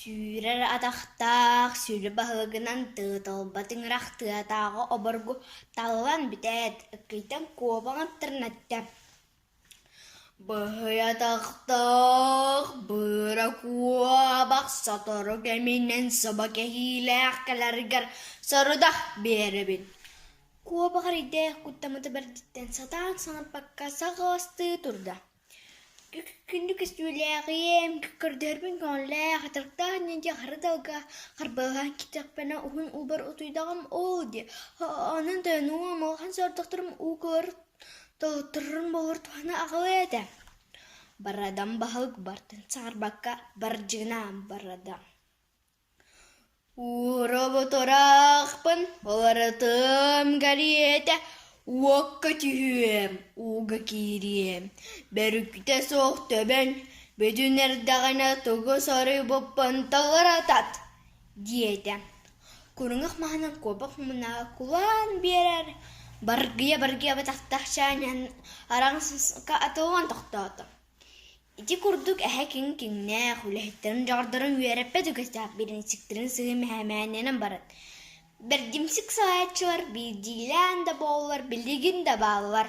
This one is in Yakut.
Сүүрэр атахтаах сүлү баһыгынан тыыталба тыҥырах тыатааҕы обургу талылан бүтээт, ыккыйтан куобаҥ аттарынатта: «Быһый атахтаах, быара куобах сотору кэминэн саба кэһиилээх кэлэригэр сорудах биэрэбин» куобах эрэйдээх куттаммыта бэрдиттэн сатаан саҥарбакка саҕаластыы турда Күндү көстүүлээҕим, көрдөһөрбүн көҥүллээх, атырыктаах диэки хара далга харбалаһан киирдэхпинэ уһун уубар утуйдаҕым оо дии, онон тойонуом улахан соҕотохторум уу кылар тоһутторорун булуор туһана аҕалыа этэ. Барадам, баһылык бартын саҥарбакка бардьыгынаам, барадам Уурабыт ыраахпын уларытыам кэриэтэ уокка түһүөм ууга киириэм бөрүкүтэ суох төбөн бүтүн эрдэҕинэ тугу соруйбуппун тылыратат диэтэ куруҥах маһынан куобах муннааҕа кулаан биэрэр баргыйа-баргыйа батахтаах чаанньан араҥсыска атыллан тохтоото Ити курдук эһэ киҥ киҥнээх, үлэһиттэрин дьоҕурдарын үөрэппэт үгэстээх бириинсиктэрин сыһыы мэһээмээнинэн баран, бэрдимсик салайааччылар биирдиилээн да буоллар билигин да бааллар